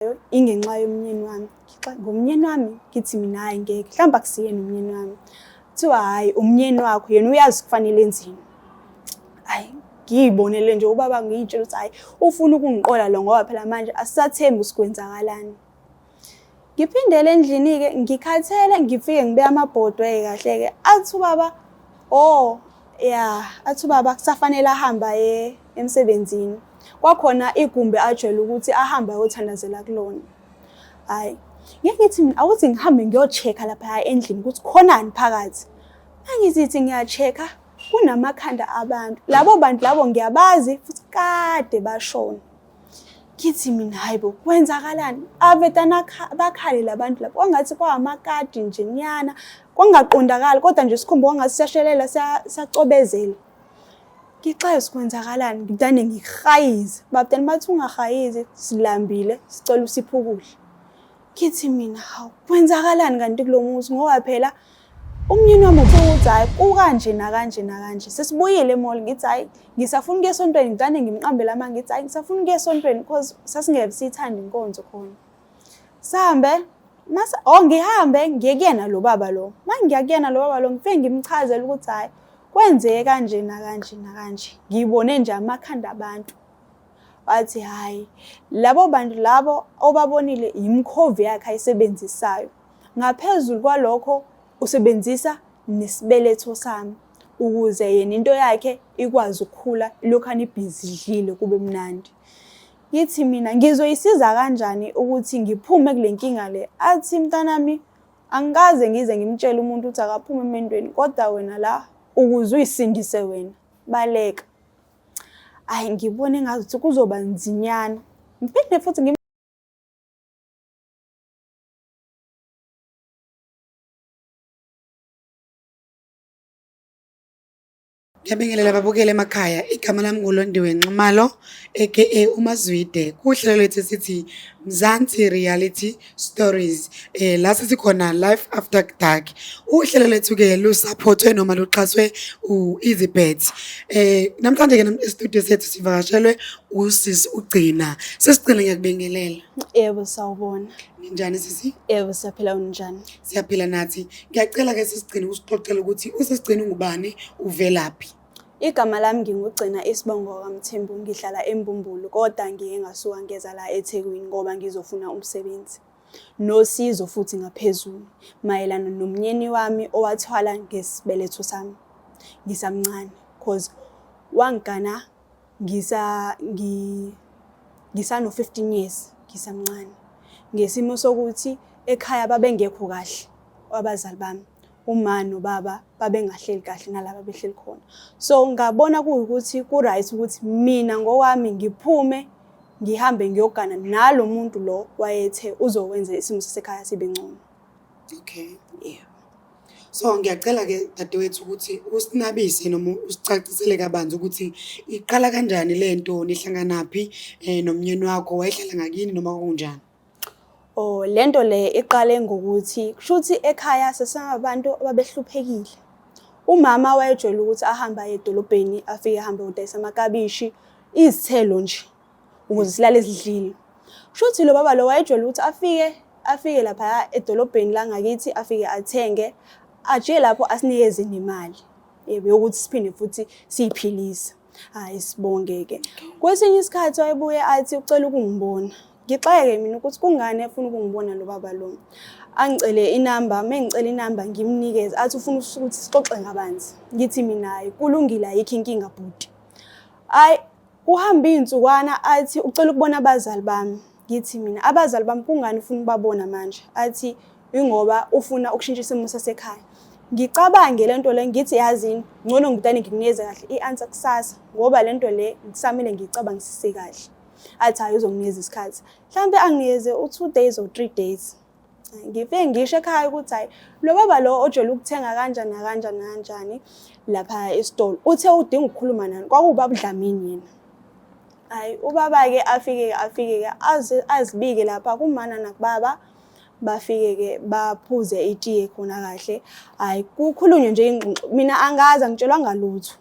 engiyenzayo ingenxa yomnyeni wami ngomnyeni wami ngithi mina hhayi ngeke mhlawumbe akusiyena umnyeni wami kuthiwa hhayi umnyeni wakho yena uyazi kufanele enzini hhayi ngiyibonele nje ubaba ngiyitshela ukuthi hhayi ufuna ukungiqola lo ngoba phela manje asisathembi usikwenzakalani ngiphindele endlini-ke ngikhathele ngifike ngibeke amabhodwe-ke kahle-ke athi ubaba o oh, ya athi ubaba kusafanele ahambe aye emsebenzini kwakhona igumbi ajwayele ukuthi ahambe ayothandazela kulona hhayi ngeke ngithi mina awuthi ngihambe ngiyochecka lapha endlini ukuthi khonani phakathi angizithi ngiyachecka kunamakhanda abantu labo bantu labo ngiyabazi futhi kade bashona kithi mina hayi bo kwenzakalani avetana bakhale labantu lapho kwangathi kwawamakadi nje nyana kwangaqondakali kodwa nje sikhumba kwangathi siyashelela siyacobezela ngixayo sikwenzakalani ngidane ngihayize babutani bathi ungahayizi silambile sicela usiphe ukudla kithi mina hawu kwenzakalani kanti kulo muzi ngoba phela Umnyeni wami uthi ukuthi hhayi kukanje nakanje nakanje sesibuyile emall ngithi hhayi ngisafuna ukuya esontweni ngigane ngimqambele ama ngithi hhayi ngisafuna ukuya esontweni because sasingeke siyithande inkonzo khona sihambe mase oh ngihambe ngiye kuyena lo baba lo uma ngiya kuyena lo baba lo ngifike ngimchazele ukuthi hhayi kwenzeke kanje nakanje nakanje ngiyibone nje amakhanda abantu wathi hhayi labo bantu labo obabonile yimkhovi yakhe ayisebenzisayo Ngaphezulu kwalokho usebenzisa nesibeletho sami ukuze yena into yakhe ikwazi ukukhula lokhu anibhizi idlile kube mnandi. Ngithi mina ngizoyisiza kanjani ukuthi ngiphume kule nkinga le? Athi mntanami angikaze ngize ngimtshele umuntu ukuthi akaphume emendweni kodwa wena la ukuze uyisindise wena baleka. Ayi ngibone ngazuthi kuzoba nzinyana. Ngiphinde futhi Ngiyabingelela babukele emakhaya igama lami nguLondiwe Nxumalo aka uMazwide kuhlelo lethu sithi Mzansi Reality Stories eh la sisikhona life after dark uhlelo lethu ke lusupportwe noma luxhaswe uEasyBet eh namhlanje ke e-studio sethu sivakashelwe usisi ugcina sesigcina ngiyakubingelela Yebo sawubona. Ninjani sisi? Yebo siyaphila unjani? Siyaphila nathi. Ngiyacela ke sisigcine usixoxela ukuthi usesigcine ungubani uvelaphi. Igama lami ngingugcina isibongo kaMthembu ngihlala eMbumbulu kodwa ngiye ngasuka ngeza la eThekwini ngoba ngizofuna umsebenzi nosizo futhi ngaphezulu mayelana nomnyeni wami owathwala ngesibeletho sami ngisamncane cause wangigana ngisa ngi ngisano 15 years ngisamncane ngesimo sokuthi ekhaya babengekho kahle abazali bami uma nobaba babengahleli kahle nalaba behleli khona so ngabona kuwukuthi ku right ukuthi mina ngokwami ngiphume ngihambe ngiyogana nalo muntu lo wayethe uzokwenza isimo sasekhaya sibe ngcono Okay. Yeah. So ngiyacela ke dadewethu ukuthi usinabise noma usicacisele kabanzi ukuthi iqala kanjani le nto nihlanganaphi um nomnyeni wakho wayehlala ngakini noma kunjani Oh lento le iqale ngokuthi kushuthi ekhaya sesingabantu ababehluphekile. Umama wayejwayele ukuthi ahamba edolobheni afike ahambe udayisa amakabishi, izithelo nje. ukuze silale sidlile kusho ukuthi lo baba lo wayejwayele ukuthi afike afike lapha edolobheni la ngakithi afike athenge ajike lapho asinikeze nemali yebo yokuthi siphinde futhi siyiphilise hayi sibongeke kwesinye isikhathi wayebuye athi ucela ukungibona ngixeke mina ukuthi kungani efuna ukungibona lo baba lo angicele inamba uma ngicela inamba ngimnikeze athi ufuna ukuthi sixoxe ngabanzi ngithi mina hayi kulungile ayikho inkinga bhuti hayi Kuhambe iy'nsukwana athi ucela ukubona abazali bami. Ngithi mina abazali bami kungani ufuna ukubabona manje? Athi ingoba ufuna ukushintsha isimo sasekhaya. Ngicabange le nto le ngithi yazini ngcono ngidane ngikunikeze kahle i-answer kusasa ngoba le nto le kusamele ngiyicabangisise kahle. Athi hayi uzonginikeza isikhathi. Mhlawumbe anginikeze u-two days or three days. ngifike ngisho ekhaya ukuthi hayi lo baba lo ojwayele ukuthenga kanjani nakanjani nakanjani lapha esitolo uthe udinga ukukhuluma nani kwakuwubaba udlamini yena hayi ubaba-ke afike-ke afike-ke azibike lapha kumana nakubaba bafike-ke baphuze itiye khona kahle hayi kukhulunywe nje ingxoxo mina angazi angitshelwa ngalutho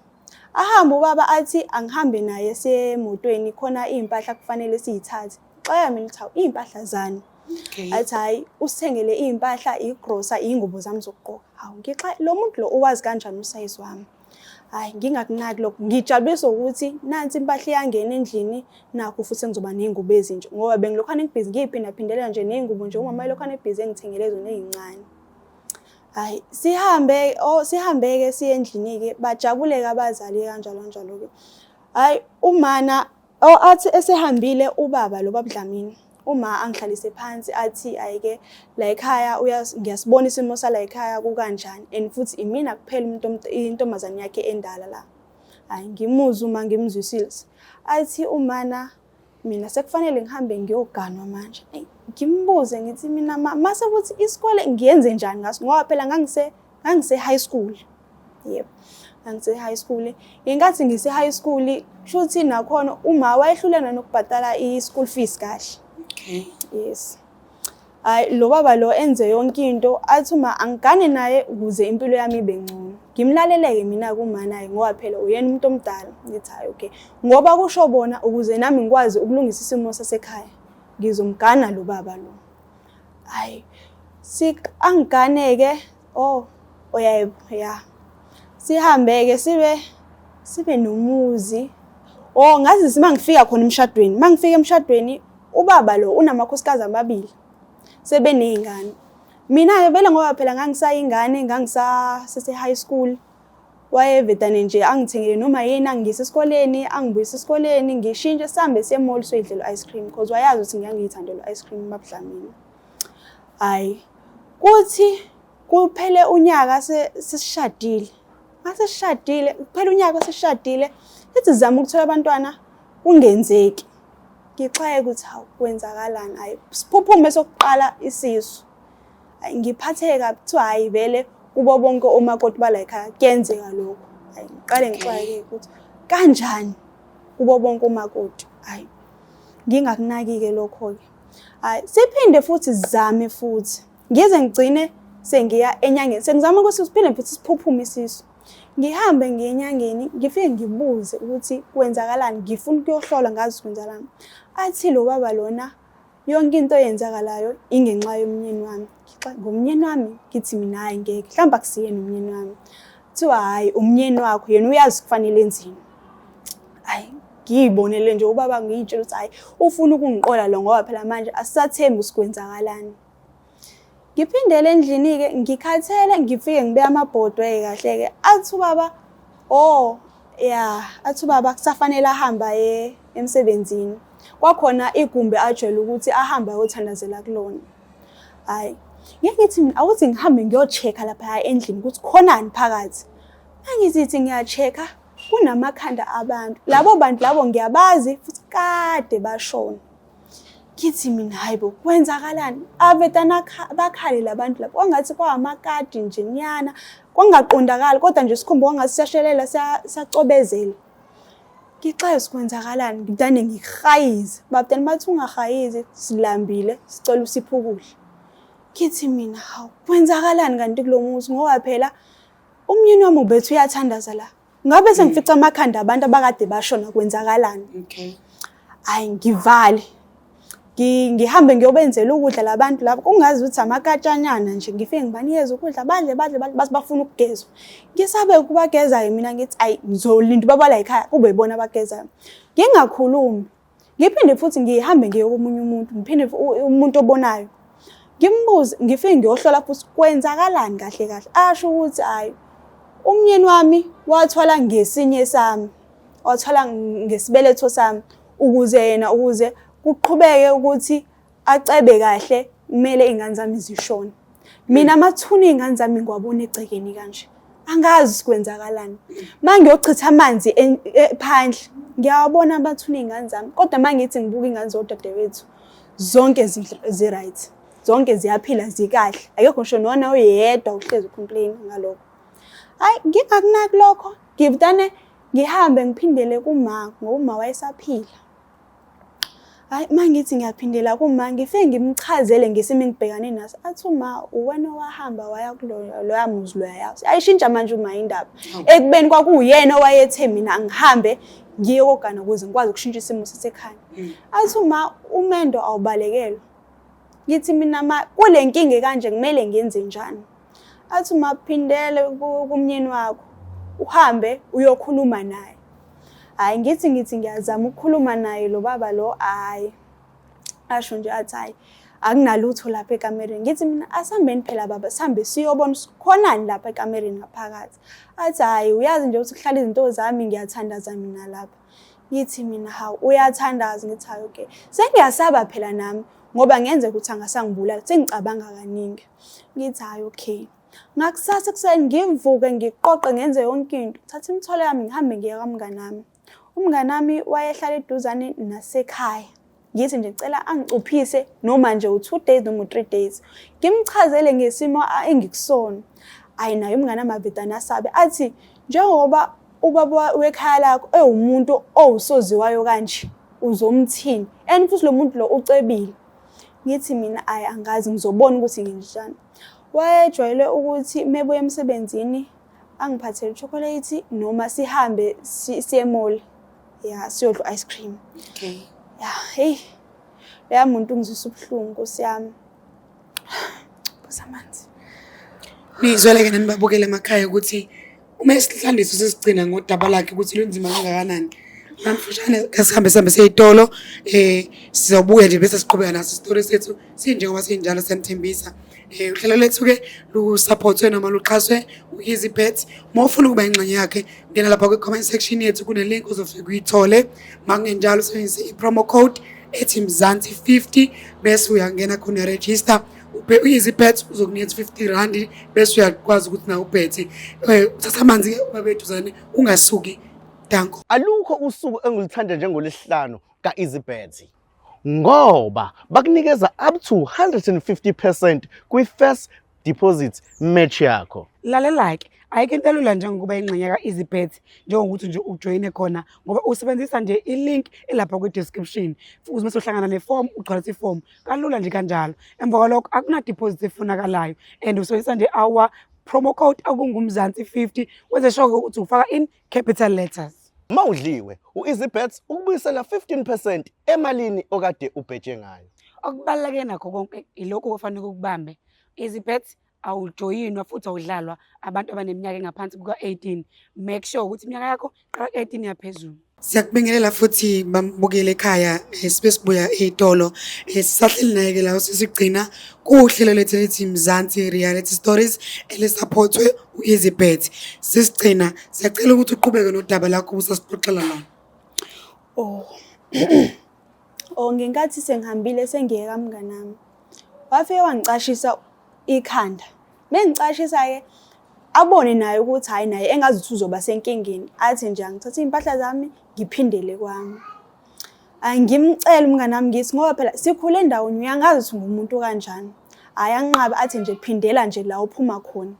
ahambe ubaba athi angihambe naye siye emotweni khona iy'mpahla kufanele siyithathe xeka mina ukuthi hawu iy'mpahla zani Okay. Athi hayi usithengele izimpahla, igrosa, izingubo zami zokugqoka. Hawu ngixa lo muntu lo owazi kanjani usayizi wami. Hayi ngingakunaki lokho. Ngijabuliswa ukuthi nansi impahla iyangena endlini nakho futhi sengizoba nezingubo ezinje ngoba bengilokhana ngibhizi ngiyiphinda phindela nje nezingubo nje umama elokhana ebhizi engithengele zona ezincane. Hayi sihambe oh sihambe ke siye endlini ke bajabuleke abazali kanjalo kanjalo ke. Hayi umana Oh athi esehambile ubaba lo babudlamini uma angihlalise phansi athi ayike la ekhaya ngiyasibona isimo sala ekhaya kukanjani and futhi imina kuphela umuntu intombazane yakhe endala la hayi ngimuzwe uma ngimzwisile athi umana mina sekufanele ngihambe ngiyoganwa manje ngimbuze ngithi mina mase ukuthi isikole ngiyenze njani ngaso ngoba phela ngangise Ngangise high school. Yebo. Ngangise high school. Ngenkathi ngise high school, shuthi nakhona uma wayehlulana nokubhadala i school fees kahle. Okay. Yes. Hayi lo baba lo enze yonke into athi uma angigane naye ukuze impilo yami ibe ngcono. Ngimlaleleke mina kuma naye ngoba phela uyena umuntu omdala. Ngithi hayi okay. Ngoba kusho bona ukuze nami ngikwazi ukulungisa isimo sasekhaya. Ngizomgana lo baba lo. hayi angigane-ke oh oyaye ya sihambe-ke sibe sibe nomuzi oh ngazise uma ngifika khona emshadweni uma ngifika emshadweni ubaba lo unamakhosikazi amabili sebeney'ngane mina-ke vele ngoba phela ngangisayingane ngangisasese-high school wayevetane nje angithengele noma yini angiyise esikoleni angibuyise esikoleni ngishintshe sihambe siye mall soyidlela u-ice cream because wayazi ukuthi ngiyangiyithandela u-ice cream mabudlamini hhayi kuthi kuphele unyaka sesishadile mase sishadile kuphele unyaka sesishadile ethi zama ukuthola abantwana kungenzeki ngixwaye ukuthi hawu kwenzakalani hhayi siphuphume sokuqala isisu ngiphatheke kabi kuthiwa hhayi vele kubo bonke omakoti balayikhaya kuyenzeka lokho hayi ngiqale ngixwayeke ukuthi kanjani kubo bonke omakoti hayi ngingakunaki-ke lokho-ke hayi siphinde futhi zame futhi ngize ngigcine sengiya enyangeni sengizama ukuthi siphinde futhi siphuphume isisu ngihambe ngiye enyangeni ngifike ngibuze ukuthi kwenzakalani ngifuna ukuyohlola ngazi kwenzakalani athi lo baba lona yonke into eyenzakalayo ingenxa yomnyeni wami ngomnyeni wami ngithi mina hayi ngeke mhlawumbe akusiyena umnyeni wami kuthiwa hhayi umnyeni wakho yena uyazi kufanele enzini hayi ngiyibonele nje ubaba ngiyitshela ukuthi hhayi ufuna ukungiqola lo ngoba phela manje asisathembi sikwenzakalani ngiphindele endlini-ke ngikhathele ngifike ngibe amabhodwe-ke kahle-ke athi ubaba o oh, ya athi ubaba kusafanele ahambe aye emsebenzini kwakhona igumbi ajwayele ukuthi ahambe ayothandazela kulona hhayi ngeke ngithi mina awuthi ngihambe ngiyocheka laphaya endlini ukuthi khonani phakathi angizithi ngiyacheka kunamakhanda abantu labo bantu labo ngiyabazi futhi kade bashona kithi mina hayi bo kwenzakalani avetana bakhale labantu lapho kwangathi kwawamakadi nje nyana kwangaqondakali kodwa nje sikhumba kwangathi siyashelela siyacobezela ngixayo sikwenzakalani ngidane ngihayize babutani bathi ungahayizi silambile sicela usiphe ukudla kithi mina hawu kwenzakalani kanti kulo muzi ngoba phela umyeni wami ubethu uyathandaza la ngabe mm. sengifica amakhanda abantu abakade bashona kwenzakalani okay hayi ngivale ngihambe ngiyobenzela ukudla labantu labo kungazi ukuthi amakatshanyana nje ngifike ngibanikeze ukudla badle badle bathi bafuna ukugezwa ngisabe ukubagezayo mina ngithi ayi ngizolinda ubabala yikhaya kube ibona abagezayo ngingakhulumi ngiphinde futhi ngihambe ngiye komunye umuntu ngiphinde umuntu obonayo ngimbuze ngifike ngiyohlola futhi kwenzakalani kahle kahle asho ukuthi hayi umnyeni wami wathwala ngesinye sami wathwala ngesibeletho sami ukuze yena ukuze kuqhubeke ukuthi acebe kahle kumele iy'ngane zami zishone mina amathuna iy'ngane zami ngiwabona egcekeni kanje angazi kwenzakalani uma ngiyochitha amanzi en- e- phandle ngiyawabona amathuna iy'ngane zami kodwa uma ngithi ngibuka iy'ngane zodadewethu zonke zi- zi-right zonke ziyaphila zikahle akekho ngisho nona oyedwa uhlezi ucomplain ngalokho hayi ngingakunaki lokho ngivdane ngihambe ngiphindele kuma ngoba uma wayesaphila hayi uma ngithi ngiyaphindela kuma ngife ngimchazele ngesimo engibhekane naso athi uma uwena owahamba waya kuloya muzi loya yazi ayishintsha manje uma indaba ekubeni kwakuyena owayethe mina ngihambe ngiye kogana ukuze ngikwazi ukushintsha isimo sasekhaya mm. athi uma umendo awubalekelwa ngithi mina kule nkinga kanje kumele ngenze njani athi umaphindele kumnyeni wakho uhambe uyokhuluma naye hayi ngithi ngithi ngiyazama ukukhuluma naye lo baba lo hayi asho nje athi hayi akunalutho lapha ekamereni ngithi mina asihambeni phela baba sihambe siyobona khonani lapha ekamereni ngaphakathi athi hhayi uyazi nje ukuthi kuhlala izinto zami ngiyathandaza mina lapha ngithi mina hawu uyathandaza ngithi hayi okay sengiyasaba phela nami ngoba ngenzeka ukuthi angasangibulala sengicabanga kaningi ngithi hhayi okay ngakusasa ekuseni ngivuke ngiqoqe ngenze yonke into thatha imithwalo yami ngihambe ngiye kamngani wami umngani wami wayehlala eduzane nasekhaya ngithi nje ngicela angicuphise noma nje u-two days noma u-three days ngimchazele ngesimo engikusona ayi naye umngane amavedane asabe athi njengoba ubaba wekhaya lakho ewumuntu owusoziwayo kanje uzomthini and futhi lo muntu lo ucebile ngithi mina ayi angazi ngizobona ukuthi nginjani wayejwayele ukuthi mebuya emsebenzini angiphathele chocolate noma sihambe siye mall ya siyodla ice cream okay ya hey leya muntu ngizisa ubuhlungu nkosiyami busamanzi nizweleke nanibabukele emakhaya ukuthi uma isihlandiso sesigcina ngodaba lakhe ukuthi lunzima kangakanani amfushane kasihambe sihambe seyitolo um eh, sizobuya nje bese siqhubeka naso isitori sethu sinjengoba sinjalo siyanithembisa um uhlelo lethu-ke lusaphothwe noma luxhaswe u-easy bet uma ufuna ukuba ingxenye yakhe ngena lapha kwi-comment section yethu kunelink uzofika uyithole makungenjalo usebenzise i-promo code ethi mzansi 50 bese uyangena khona register uyizi pets uzokunika 50 rand bese uyakwazi ukuthi na uphethe eh, uthatha amanzi ke ubabeduzane ungasuki danko alukho usuku engilithanda njengolesihlanu ka easy pets ngoba bakunikeza up to 150% kwi first deposit match yakho lalela ke ayike into elula njengokuba ingxenye ka-easybet njengokuthi nje ujoyine khona ngoba usebenzisa nje i-link elapha kwi-description futhi uma sohlangana nefomu ugcwalisa ifomu kalula nje kanjalo emva kwalokho akunadiposit efunakalayo and usebenzisa nje our promo code akungumzansi 50 wenze sure ukuthi ufaka in capital letters uma udliwe u-easybets ukubuyisela 15 percent emalini okade ubhetshe ngayo okubaluleke nakho konke ilokhu okufanele ukubambe easybets awujoyinwa futhi awudlalwa abantu abaneminyaka engaphansi kuka-18 make sure ukuthi iminyaka yakho qala ku-18 yaphezulu siyakubingelela futhi bambukele ekhaya eh, sibe sibuya ey'tolo eh, sisahleli naye-ke la sesigcina kuhlelo lethu elithi mzansi reality stories elisaphothwe u-easy bet sisigcina siyacela ukuthi uqhubeke nodaba lakho ubusasixoxela lona o oh. o oh, ngenkathi sengihambile sengiye kamnganami wafike wangicashisa ikhanda mengicashisa-ke abone naye ukuthi hhayi naye engazi ukuthi uzoba senkingeni athi nje angithathe iy'mpahla zami ngiphindele kwami angimcele umngane wami ngithi ngoba phela sikhule endaweni uyangazi ukuthi ngumuntu kanjani hhayi anqabe athi nje phindela nje la uphuma khona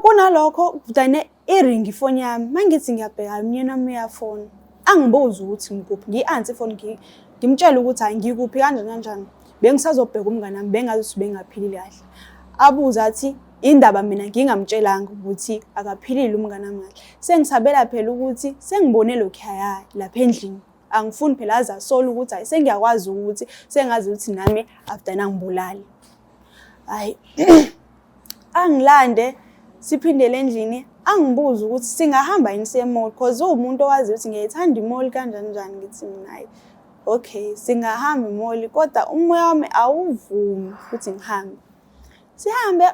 kunalokho kudane iringi ifoni yami mangithi ngiyabheka umnyeni wami uyafona angibuzi ukuthi ngikuphi ngiyi-ansi ifoni ngimtshele ukuthi hayi ngikuphi kanjani kanjani bengisazobheka umngane wami bengazi ukuthi bengaphilile kahle abuze athi indaba mina ngingamtshelanga ukuthi akaphilile umngane wami kahle sengisabela phela ukuthi sengibone lokhu yaya lapha endlini angifuni phela aze asole ukuthi hayi sengiyakwazi ukuthi sengazi ukuthi nami after nangibulali hayi angilande siphindele endlini angibuze ukuthi singahamba yini siye mall cause uwumuntu owazi ukuthi ngiyayithanda imall kanjani njani ngithi minaye okay singahamba imall kodwa umoya wami awuvumi ukuthi ngihambe sihambe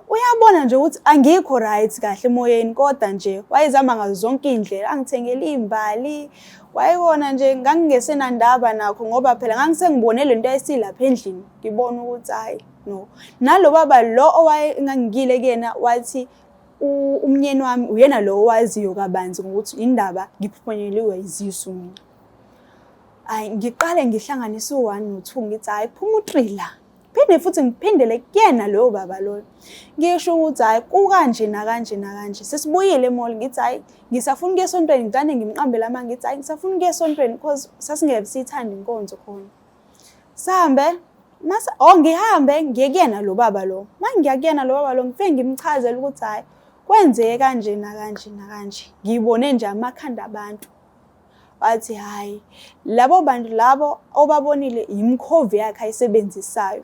uyabona nje ukuthi angikho right kahle emoyeni kodwa nje wayezama ngazo zonke iy'ndlela angithengele iy'mbali wayekona nje ngangingesenandaba nakho ngoba phela ngangisengibone le nto yayisilapha endlini ngibona ukuthi hayi no nalo baba lo owaye ngangikile kuyena wathi umnyeni wami uyena lo owaziyo kabanzi ngokuthi indaba ngiphunyeliwe izisu mina hayi ngiqale ngihlanganise u-one no-two ngithi hhayi phuma u-three la phinde futhi ngiphindele kuyena loyo baba loyo ngisho ukuthi hhayi kukanje nakanje nakanje sesibuyile emall ngithi hhayi ngisafuna ukuya esontweni ngicane ngimqambela ama ngithi hhayi ngisafuna ukuya esontweni because sasingeke siyithande inkonzo khona Sambe mase oh ngihambe ngiye kuyena lo baba lo mangiya kuyena lo baba lo ngifike ngimchazela ukuthi hayi kwenzeke kanje nakanje nakanje ngibone nje amakhanda abantu wathi hayi labo bantu labo obabonile yimkhovi yakhe ayisebenzisayo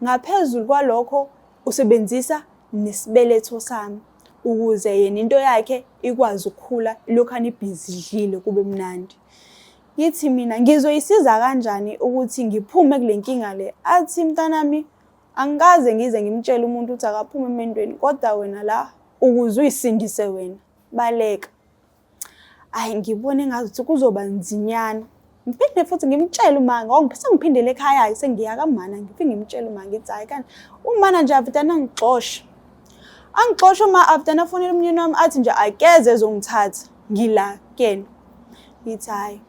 ngaphezulu kwalokho usebenzisa nesibeletho sami ukuze yena into yakhe ikwazi ukukhula lokhu anibhizi idlile kube mnandi Ngithi mina ngizoyisiza kanjani ukuthi ngiphume kule nkinga le. Athi mntanami angikaze ngize ngimtshele umuntu ukuthi akaphume emendweni kodwa wena la ukuze uyisindise wena. Baleka. Ayi ngibone ngazuthi kuzoba nzinyana. Ngiphinde futhi ngimtshele uma ngongiphethe ngiphindele ekhaya sengiya kamana ngifike ngimtshele uma ngithi hayi kanti umana nje avitana ngixosha. Angixosha uma avitana afonela umnyeni wami athi nje akeze ezongithatha. ngila kuyena ngithi hhayi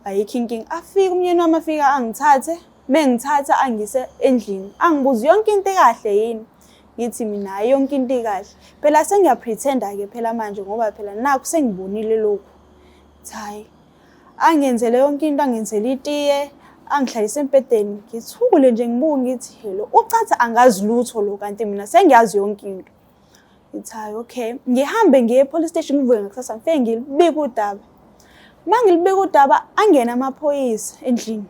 ayikho inkinga afike umyeni wami afika angithathe mengithatha angise endlini angibuze yonke into ekahle yini ngithi mina hayi yonke into ikahle phela sengiyapretenda ke phela manje ngoba phela nakho sengibonile lokhu hayi angenzele yonke into angenzele itiye angihlalise embhedeni ngithule nje ngibuke ngithi hello ucathi angazi lutho lo kanti mina sengiyazi yonke into Ngithi hayi okay, ngihambe ngiye e-police station ngivuke ngakusasa ngifike ngilibike udaba. Uma ngilibike udaba angena amaphoyisa endlini.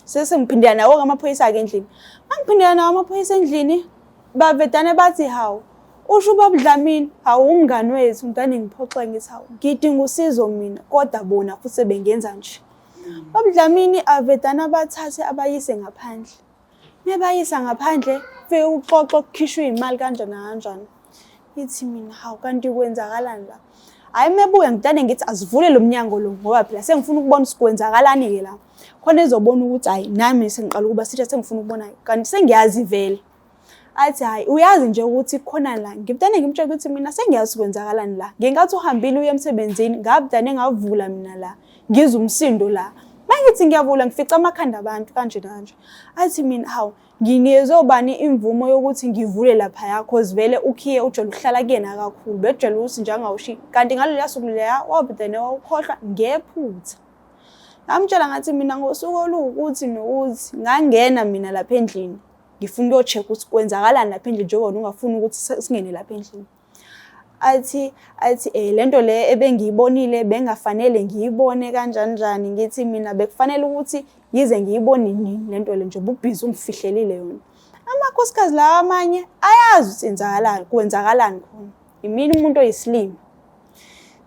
Sese ngiphindela nawo amaphoyisa-ke endlini. Uma ngiphindela nawo amaphoyisa endlini bavedane bathi hawu usho ubaba Dlamini hawu umngani wethu ngidane ngiphoxe ngithi hawu ngidinga usizo mina kodwa bona futhi sebengenza nje. Baba Dlamini avedane abathathe abayise ngaphandle. Mebayisa ngaphandle fike uxoxo kukhishwa izimali kanjani kanjani. Ithi mina hawu kanti kwenzakalani la? Hayi mebuya ngidane ngithi asivule lo mnyango lo ngoba phela sengifuna ukubona sikwenzakalani ke la. Khona ezobona ukuthi hayi nami sengiqala ukuba sithe sengifuna ukubona kanti sengiyazi vele. Athi hayi uyazi nje ukuthi khona la ngibudane ngimtshela ukuthi mina sengiyazi kwenzakalani la. Ngenkathi uhambile uye emsebenzini ngabudane ngavula mina la. ngizwa umsindo la mangithi ngiyavula ngifica amakhanda abantu kanje kanje athi mina hawu nginikezwe ubani imvumo yokuthi ngivule lapha yakho zivele ukhiye ujwayele ukuhlala kuyena kakhulu bejwayele ukuthi njengawushi kanti ngaleliya suku leya wabudene wawukhohlwa ngephutha ngamtshela ngathi mina ngosuku oluwukuthi nokuthi ngangena mina lapha endlini ngifuna ukuyocheck ukuthi kwenzakalani lapha endlini njengoba ungafuni ukuthi singene lapha endlini athi athi eh lento le ebengiyibonile bengafanele ngiyibone kanjani njani ngithi mina bekufanele ukuthi yize ngiyibone nini lento le nje ububhizi ungifihlelile yona amakhosikazi lawa amanye ayazi ukuthi enzakalani kwenzakalani khona yimina umuntu oyisilima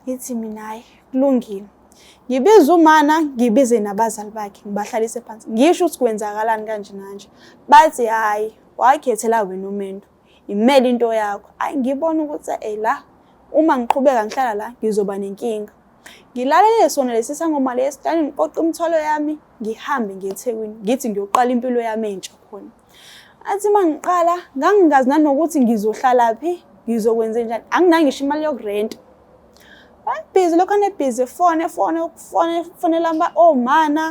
ngithi mina hayi kulungile ngibiza umana ngibize nabazali bakhe ngibahlalise phansi ngisho ukuthi kwenzakalani kanje nanje bathi hhayi wakhethela wena umendo imele into yakho ayi ngibona ukuthi ey la uma ngiqhubeka ngihlala la ngizoba nenkinga ngilalele sona lesi sangoma lesi dani ngiqoqa umthwalo yami ngihambe ngiye ethekwini ngithi ngiyoqala impilo yami entsha khona athi uma ngiqala ngangingazi nanokuthi ngizohlala phi ngizokwenze njani anginangisho imali yokurenta Bayibhizi lokho anebhizi efone efone ukufone fonela omana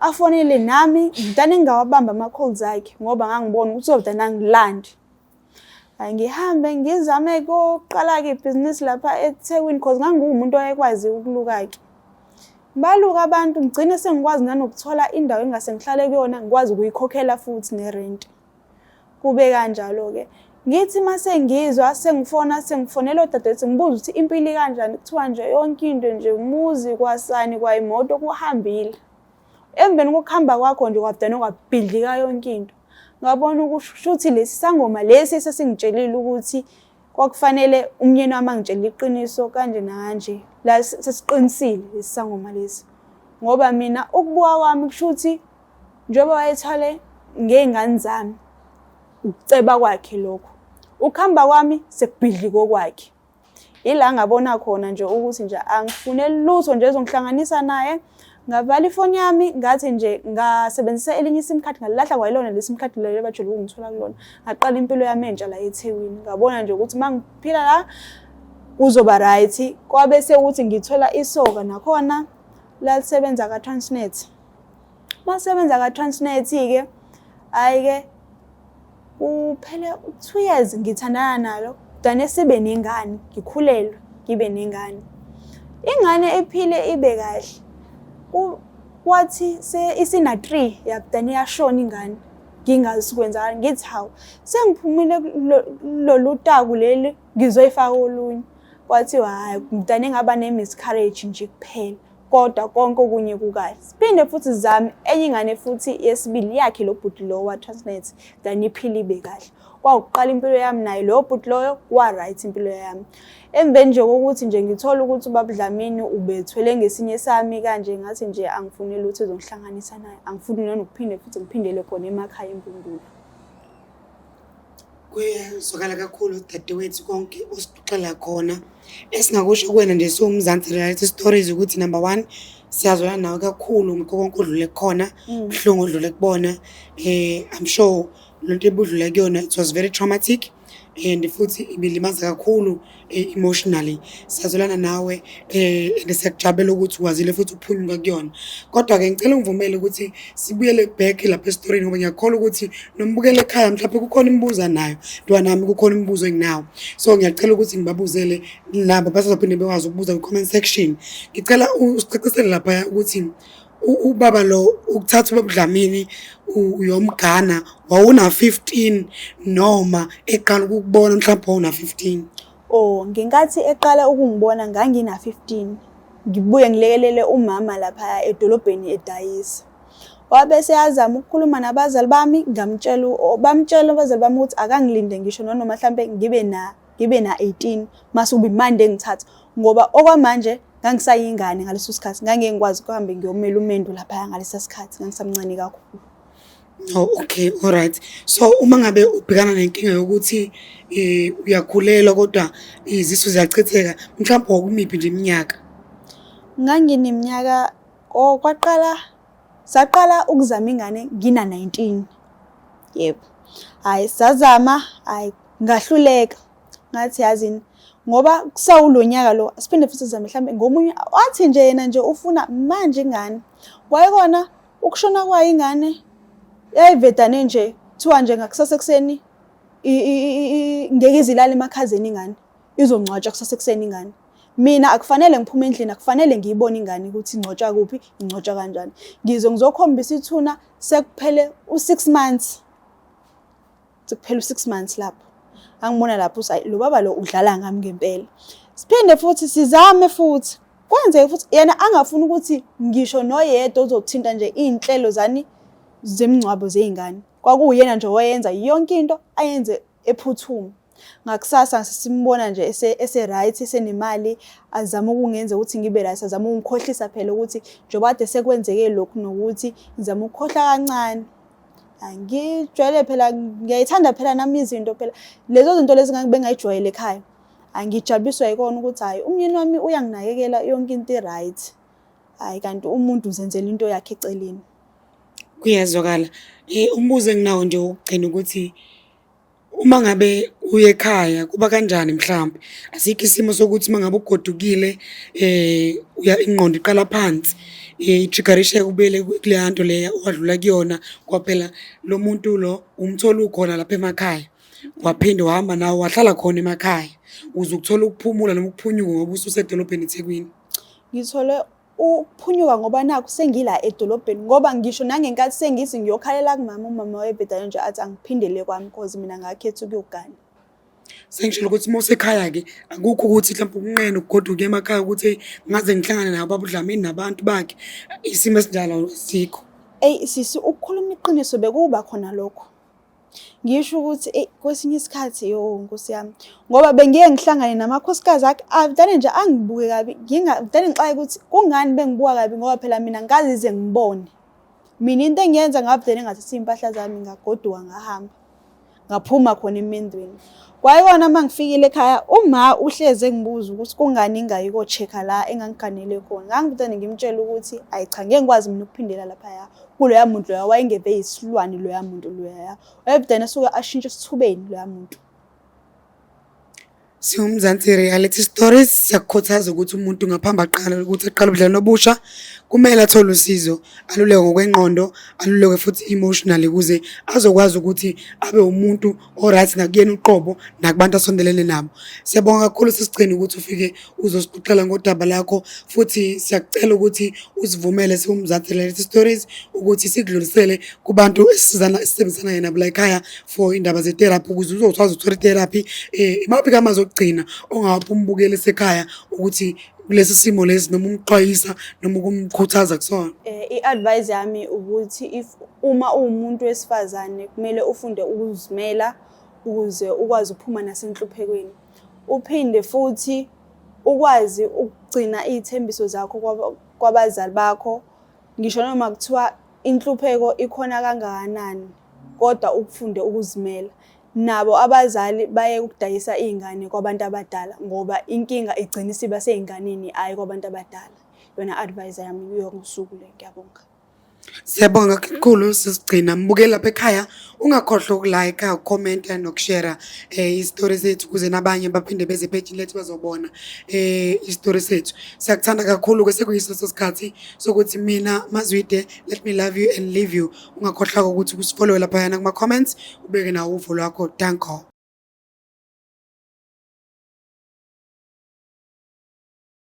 afonele nami ngidane ngingawabamba ama-calls akhe ngoba ngangibona ukuthi uzodane angilandi ngihambe ngizame koqala-ke ibhizinisi lapha ethekwini cause ngangiwumuntu owayekwazi ukuluka-ke baluka abantu ngigcine sengikwazi nanokuthola indawo engase ngihlale kuyona ngikwazi ukuyikhokhela futhi nerenti kube kanjalo-ke ngithi uma sengizwa sengifona sengifonela odadewethu ngibuza ukuthi impilo ikanjani kuthiwa nje yonke into nje umuzi kwasani kwayimoto kuhambile emveni kokuhamba kwakho nje kwabudana kwabhidlika yonke into ngabona ukushuthi lesi sangoma lesi esesingitshelile ukuthi kwakufanele umnyeni wami angitshelile iqiniso kanje nakanje la sesiqinisile lesi sangoma lesi ngoba mina ukubuka kwami kusho ukuthi njengoba wayethwale ngey'ngane zami ukuceba kwakhe lokhu ukuhamba kwami sekubhidli kokwakhe ila ngabona khona nje ukuthi nje angifune lutho nje ezongihlanganisa naye ngavala ifoni yami ngathi nje ngasebenzisa elinye isim card ngalilahla kwayilona lesim card lelo bajule ukungithola kulona ngaqala impilo yami entsha la eThekwini ngabona nje ukuthi mangiphila la kuzoba right kwabe sekuthi ngithola isoka nakhona lalisebenza ka Transnet Masebenza ka Transnet ke hayi ke uphele 2 years ngithandana nalo dane sibe nengane ngikhulelwe ngibe nengane ingane ephile ibe kahle wathi isina 3 yakudane yashona ingane ngingazi sikwenzani ngithi hawu sengiphumile lolu taku leli ngizoyifaka olunye kwathiwa hayi mntana engaba ne-miscarriage nje kuphela kodwa konke okunye kukahle siphinde futhi zami enye ingane futhi yesibili yakhe lo bhuti lowo wa-transnet then iphile ibe kahle kwakuqala impilo yami naye loyo bhuti loyo wa-right impilo yami emveni nje kokuthi nje ngithole ukuthi ubabudlamini ubethwele ngesinye sami kanje ngathi nje angifuni lutho ezongihlanganisa naye angifuni nanokuphinde futhi ngiphindele khona emakhaya empundulo kuyazwakala kakhulu dadewethu konke osixela khona esingakusho kuwena nje siwumzansi reality stories ukuthi number one siyazwana nawe kakhulu ngikho konke odlule kukhona mm. buhlungu odlule kubona um i'm sure lo nto ebudlule kuyona it was very traumatic and futhi ibilimaza kakhulu um eh, emotionally sazolana nawe eh and siyakujabulela ukuthi ukwazile futhi uphunguka kuyona kodwa ke ngicela ungivumele ukuthi sibuyele back lapha estoryini ngoba ngiyakholwa ukuthi nombukele ekhaya mhlawumbe kukhona imibuzo nayo ntwana nami kukhona imibuzo enginawo so ngiyacela ukuthi ngibabuzele labo basazophinde bekwazi ukubuza ku comment section ngicela usicacisele lapha ukuthi ubaba lo ukuthatha ubabudlamini uyomgana wawuna-15 noma eqala ukukubona mhlawumbe wawuna-15 o oh, ngenkathi eqala ukungibona ngangina-15 ngibuye ngilekelele umama laphaya edolobheni edayisa wabe seyazama ukukhuluma nabazali bami ngamtshela bamtshela abazali bami ukuthi akangilinde ngisho nonoma mhlampe ngibe na ngibe na 18 mase ubi manje engithatha ngoba okwamanje ngangisayingane ngaleso sikhathi ngangeke ngikwazi kuhambe ngiyomela umendo lapha ngalesa sikhathi ngangisamncane kakhulu Oh okay all right so uma ngabe ubhekana nenkinga yokuthi eh uyakhulelwa kodwa izisu ziyachitheka mhlawumbe okumiphi nje iminyaka Ngangineminyaka oh kwaqala saqala ukuzama ingane ngina 19 yebo hayi sazama hayi ngahluleka ngathi yazini ngoba kusawulonyaka lo siphinde futhi sizame mhlambe ngomunye wathi nje yena nje ufuna manje ingane kwayekona ukushona kwayo ingane yayivedane nje kuthiwa nje ngakusasa ekuseni ngeke izilale emakhazeni ingane izongcwatshwa kusasa ekuseni ingane mina akufanele ngiphume endlini akufanele ngiyibone ingane ukuthi ingcotshwa kuphi ingcotshwa kanjani ngizwe ngizokhombisa ithuna sekuphele u-six months sekuphela u-six months lapho angibona lapho uthi lo baba lo udlala ngami ngempela siphinde futhi sizame futhi kwenzeke futhi yena angafuni ukuthi ngisho noyedwa uzothinta nje iy'nhlelo zani zemngcwabo zey'ngane kwakuyena nje owayenza yonke into ayenze ephuthuma ngakusasa simbona nje ese-right esenemali azama ukungenza ukuthi ngibe right azama ukungikhohlisa phela ukuthi njengoba kade sekwenzeke lokhu nokuthi ngizama ukukhohlwa kancane angijwayele phela ngiyayithanda phela nami izinto phela lezo zinto lezi bengayijwayele ekhaya angijabuliswa yikona ukuthi hhayi umyeni wami uyanginakekela yonke into i-right hhayi kanti umuntu uzenzela into yakhe eceleni kuyezwakala um umbuzo enginawo nje wokugcina ukuthi Uma ngabe uye ekhaya kuba kanjani mhlawumbe asikho isimo sokuthi uma ngabe ugodukile eh uya ingqondo iqala phansi eh, ijigarisheke ubele kuleya nto leya owadlula kuyona kwaphela lo muntu lo umthola ukhona lapha emakhaya waphinde wahamba nawo wahlala khona emakhaya uze ukuthola ukuphumula noma ukuphunyuka ngoba ususedolobheni ethekwini ngithole ukuphunyuka ngoba nakho sengila edolobheni ngoba ngisho nangenkathi sengithi ngiyokhalela kumama umama wayebhedayo nje athi angiphindele kwami cause mina ngakhetha ukuyogana sengishilo ukuthi uma usekhaya-ke akukho ukuthi mhlawumbe ukunqena ukugoduka emakhaya ukuthi ngaze ngihlangane nabo babudlamini nabantu bakhe isimo esinjalo sikho eyi sisi ukukhuluma iqiniso bekuba khona lokho ngisho ukuthi eyi kwesinye isikhathi yo nkosi yami ngoba bengiye ngihlangane namakhosikazi akhe avdane nje angibuke kabi ngingavdane ngixaye ukuthi kungani bengibuka kabi ngoba phela mina ngazize ngibone mina into engiyenza ngavdane ngathatha iy'mpahla zami ngagoduka ngahamba ngaphuma khona emendweni kwayikona uma ngifikile ekhaya uma uhlezi engibuza ukuthi kungani ingayi ko-check-a la engangiganele khona ngangivdane ngimtshela ukuthi ayi cha ngeke ngikwazi mina ukuphindela laphaya kuloya muntu loya wayengeve yisilwane loya muntu loya wayebudana suke ashintshe esithubeni loya muntu siwumzansi reality stories siyakukhuthaza ukuthi umuntu ngaphambi aqala ukuthi aqala ubudlelwano obusha kumele athole usizo aluleke ngokwengqondo aluleke futhi emotionally ukuze azokwazi ukuthi abe umuntu o-right nakuyena uqobo nakubantu asondelene nabo siyabonga kakhulu sesichini ukuthi ufike uzosixoxela ngodaba lakho futhi siyakucela ukuthi usivumele siwumzansi lalethi stories ukuthi sikudlulisele kubantu esisizana esisebenzisana yena bula ekhaya for indaba ze-therapy ukuze uzokwazi ukuthola i-therapy um imaphi kamazokugcina ongawaphi umbukeli esekhaya ukuthi kulesi simo lesi noma umxwayisa noma ukumkhuthaza kusona eh iadvice yami ukuthi if uma uwumuntu wesifazane kumele ufunde ukuzimela ukuze ukwazi ukuphuma nasenhluphekweni uphinde futhi ukwazi ukugcina izithembiso zakho kwabazali bakho ngisho noma kuthiwa inhlupheko ikhona kangakanani kodwa ukufunde ukuzimela nabo abazali baye ukudayisa iy'ngane kwabantu abadala ngoba inkinga igcina isiba sey'nganeni hhayi kwabantu abadala yona advise yami kuyo ngosuku le ngiyabonga Siyabonga kakhulu sisigcina mbuke lapha ekhaya ungakhohlwa ukulike comment nokushare eh istory sethu kuze nabanye baphinde beze page lethu bazobona eh istory sethu siyakuthanda kakhulu ke sekuyiso sesikhathi sokuthi mina mazwide let me love you and leave you ungakhohlwa ukuthi kusifollowe laphayana kuma-comments ubeke nawo uvo lwakho danko